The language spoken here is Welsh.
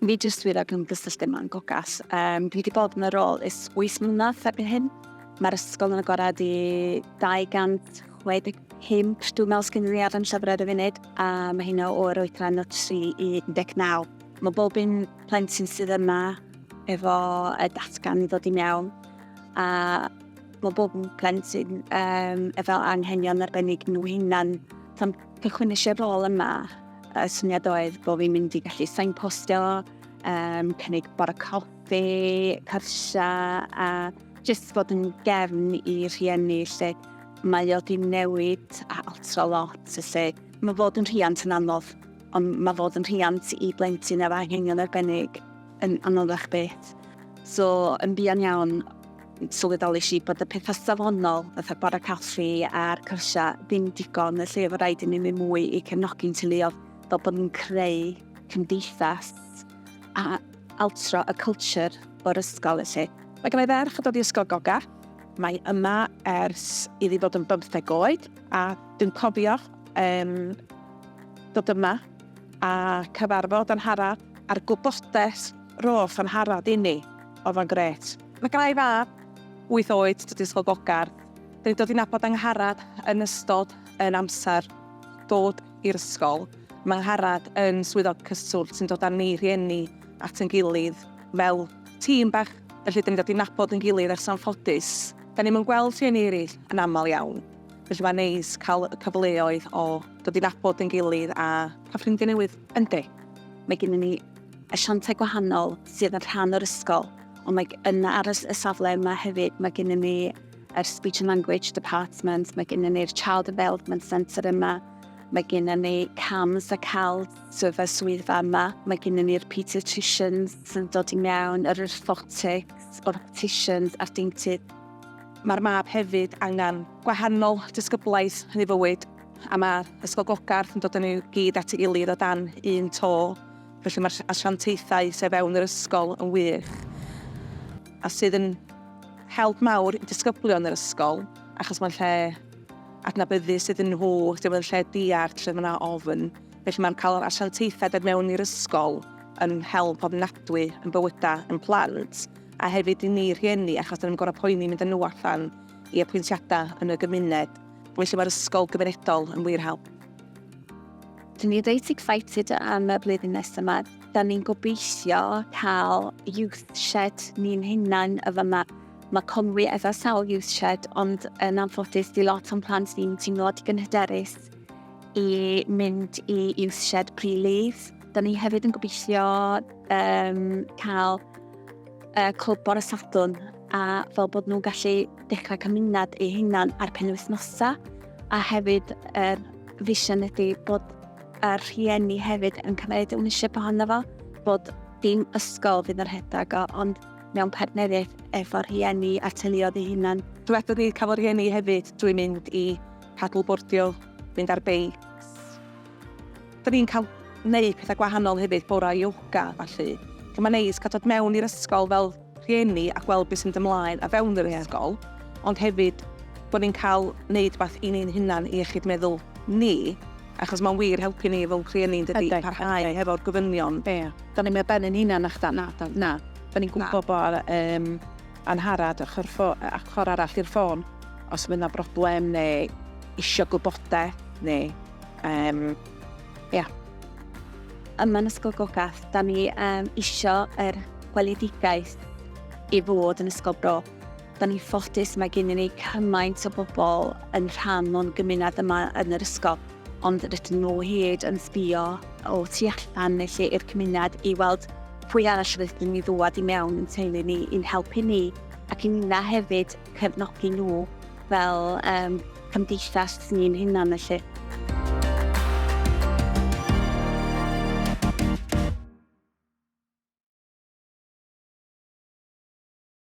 Fi jyst wir ag ymgysylltu yma'n gogas. Um, dwi wedi bod yn y rôl is 8 mlynedd erbyn hyn. Mae'r ysgol yn agored i 265 dwi'n meddwl sgyn ni ar yn llyfr ar y funud, a mae hynna o'r oedran o 3 i 19. Mae bob un plentyn sydd yma efo y datgan i ddod i mewn, a Mae bob plentyn um, efo anghenion arbennig nhw hunan. Tan cychwyn eisiau rôl yma, y syniad oedd bod fi'n mynd i gallu signpostio, um, cynnig bore coffi, cyrsia, a jyst bod yn gefn i rhieni lle mae o di newid a altro lot. Felly mae fod yn rhiant yn anodd, ond mae fod yn rhiant i blentyn efo anghenion arbennig yn anoddach beth. So, yn buan iawn, Sylweddolish i bod y pethau safonol, fatha bore caffi a'r cyrsiau, ddim digon, felly oedd rhaid i ni wneud mwy i cefnogi'n teuluoedd fel bod ni'n creu cymdeithas a altro y culture o'r ysgol felly. Mae gen i ferch yn dod i Ysgol Goga. Mae yma ers iddi fod yn bymtheg oed a dwi'n cofio um, dod yma a cyfarfod Anharad a'r gwybodaeth roth Anharad inni oedd o'n gret. Mae gennai fab, wyth oed, dod i Ysgol Bogarth. Dyn ni'n dod i nabod Angharad yn ystod yn amser dod i'r ysgol. Mae Angharad yn swyddog cyswllt sy'n dod â ni rhieni at yn gilydd fel tîm bach, felly dyn ni'n dod i nabod yn gilydd ers anffodus, dyn ni'm yn gweld rhieni eraill yn aml iawn. Felly mae'n neis cael y cyfleoedd o dod i nabod yn gilydd a cael ffrindiau newydd. Yndi, mae gennyn ni asiantau gwahanol sydd yn rhan o'r ysgol, ond mae yn ar y safle yma hefyd, mae gennym ni yr Speech and Language Department, mae gennym ni'r Child Development Centre yma, mae gennym ni CAMS a CALS, swydd y swyddfa yma, mae gennym ni'r paediatricians sy'n dod i mewn, yr orthotics, orthopticians a'r deintydd. Mae'r mab hefyd angen gwahanol disgyblaeth yn ei fywyd, a mae'r Ysgol Gogarth yn dod yn ei gyd at ei gilydd o dan un to. Felly mae'r asiantaethau sy' o fewn yr ysgol yn wych, a sydd yn help mawr i disgyblion yr ysgol, achos mae'n lle adnabyddus iddyn nhw, lle mae'n lle diarth, lle mae yna ofn. Felly mae'n cael yr asiantaethau dod mewn i'r ysgol yn help ofnadwy yn bywydau yn plant, a hefyd i ni rhieni, achos dyn ni'n gorau poeni mynd â nhw allan i apwyntiadau yn y gymuned. Felly mae'r ysgol gymunedol yn wir help. Dyn ni reit excited am y blwyddyn nesaf yma. Da ni'n gobeithio cael youth shed ni'n hunan y fyma. Mae Conwy efo sawl youth shed, ond yn anffodus di lot o'n plant ni'n teimlo digon hyderus i mynd i youth shed pre-leave. Da ni hefyd yn gobeithio um, cael y clwb bore Sadwn a fel bod nhw'n gallu dechrau cymuned eu hunan ar penwythnosau a hefyd yr er vision ydy bod yr rhieni hefyd yn cymryd ownership ohono fo, bod dim ysgol fydd yn rhedeg o, ond mewn partneriaeth efo rhieni a teuluodd ei hunan. Dywedwn ni cafodd rhieni hefyd drwy mynd i paddleboardio, mynd ar beics, Dan ni'n cael neud pethau gwahanol hefyd, bora ioga a ballu. So mae'n neis cael dod mewn i'r ysgol fel rhieni a gweld beth sy'n mynd ymlaen o fewn yr ysgol, ond hefyd bod ni'n cael neud rhywbeth i ni'n hunan, i iechyd meddwl ni, achos mae'n wir helpu ni fel rhieni yn dydi, parhau hefo'r gofynion. Ie, dan ni'n mynd ar ben ein hunan nachdan, na, na, dan ni'n gwybod bod Angharad ochr arall i'r ffôn os fydd yna broblem neu isio gwybodaeth neu... Um, yeah. Yma yn Ysgol Gogath, da ni um, isio yr gweledigaeth i fod yn Ysgol Bro. Da ni'n ffodus mae gennym ni cymaint o bobl yn rhan o'n gymuned yma yn yr ysgol, ond rydyn nhw hyd yn sbio o tu allan neu lle i'r cymuned i weld pwy arall rydyn ni ddwad i mewn yn teulu ni i'n helpu ni ac i na hefyd cefnogi nhw fel um, cymdeithas ni'n hunan felly.